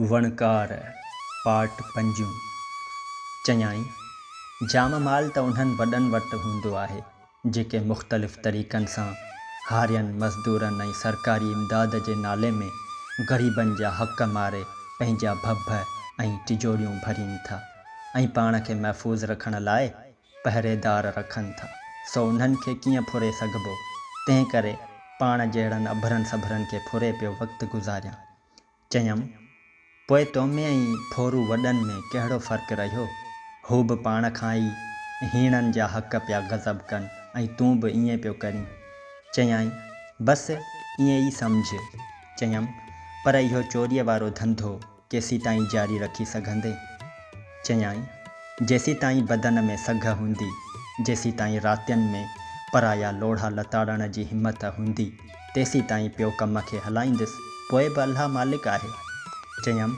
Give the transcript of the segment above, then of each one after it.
وڻڪار، پارٽ پنجون، چيائين، جام مال ته انهن وڏن وٽ هوندو آهي، جيڪي مختلف طريقن سان هارين، مزدورن ۽ سرڪاري امداد جي نالي ۾ غريبن جا حق ماري پنهنجا ڀڀ ۽ ٽجوريون ڀرين ٿا ۽ پاڻ کي محفوظ رکڻ لاء پهريدار رکن ٿا، سو انهن کي ڪيئن ڦري سگهبو؟ تنهن ڪري پاڻ جهڙن اڀرن سڀرن کي ڦري پيو وقت گذاريان. چيم، پوء تو ۾ ۽ ڦورو وڏن ۾ ڪهڙو فرق رهيو؟ هو به پاڻ کان ئي هيڻن جا حق پيا غضب ڪن ۽ تون به ائين پيو ڪرين. چيائين، بس ائين ئي سمجهه. چيم، پر اهو چوريء وارو ڌنڌو ڪيسيتائين جاري رکي سگهندين؟ چيائين، جيسيتائين بدن ۾ سگهه هوندي، جيسيتائين راتين ۾ پرايا لوڙها لتاڙڻ جي همٿ هوندي، تيسيتائين پيو ڪم کي هلائيندس، پوء به الله مالڪ آهي. چيم،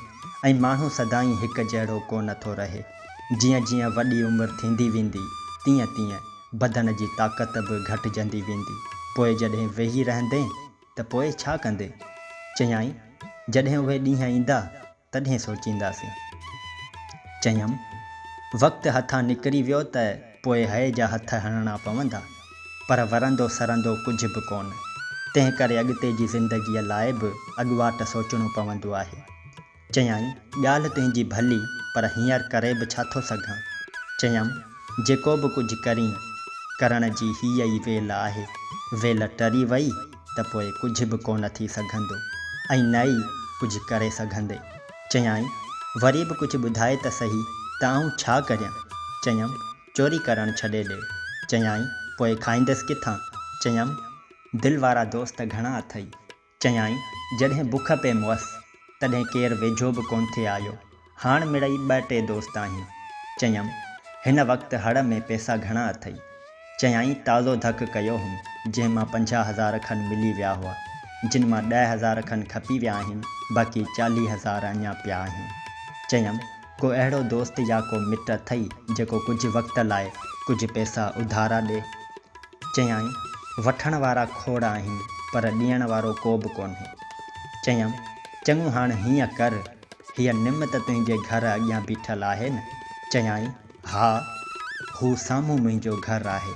۽ ماڻهو سدائين هڪ جهڙو ڪو نه ٿو رهي. جيئن جيئن وڏي عمر ٿيندي ويندي، تيئن تيئن بدن جي طاقت به گهٽجندي ويندي، پوء جڏهن ويهي رهندين، ته پوء ڇا ڪندين؟ چيائين، جڏهن اهي ڏينهن ايندا، تڏهن سوچينداسين. چيم، وقت هٿان نڪري ويو ته پوء هيء جا هٿ هڻڻا پوندا، پر ورندو سرندو ڪجهه به ڪونه، تنهنڪري اڳتي جي زندگيء لاء به اڳواٽ سوچڻو پوندو آهي. چيائين، ڳالهه تنهنجي ڀلي، پر هينئر ڪري به ڇا ٿو سگهان؟ چيم، جيڪو به ڪجهه ڪرين، ڪرڻ جي هيء ئي ويل آهي. ويل ٽري وئي ته پوء ڪجهه به ڪونه ٿي سگهندو ۽ نه ئي ڪجهه ڪري سگهندي. چيائين، وري به ڪجهه ٻڌاء ته سهي ته آئون ڇا ڪريان؟ چيم، چوري ڪرڻ ڇڏي ڏي. چيائين، پوء کائيندس ڪٿان؟ چيم، دل وارا دوست گهڻا اٿئي. چيائين، جڏهن بک پئي مئس، تڏهن ڪير ويجهو به ڪونه ٿي آيو. هاڻ مڙئي ٻه ٽي دوست آهيون. چيم، هن وقت هڙ ۾ پئسا گهڻا اٿئي؟ چيائين، تازو ڌڪ ڪيو هوم، جنهن مان پنجاهه هزار کن ملي ويا هئا، جن مان ڏهه هزار کن کپي ويا آهن، باقي چاليهه هزار اڃا پيا آهن. چيم، ڪو اهڙو دوست يا ڪو مٽ اٿئي، جيڪو ڪجهه وقت لاء ڪجهه پئسا اڌارا ڏي؟ چيائين، وٺڻ وارا کوڙ آهن، پر ڏيڻ وارو ڪوبه ڪونهي. چيم، چڱو هاڻ هيئن ڪر، هيء نم ته تنهنجي گهر اڳيان بيٺل آهي نه؟ چيائين، ها، هو سامهون منهنجو گهر آهي.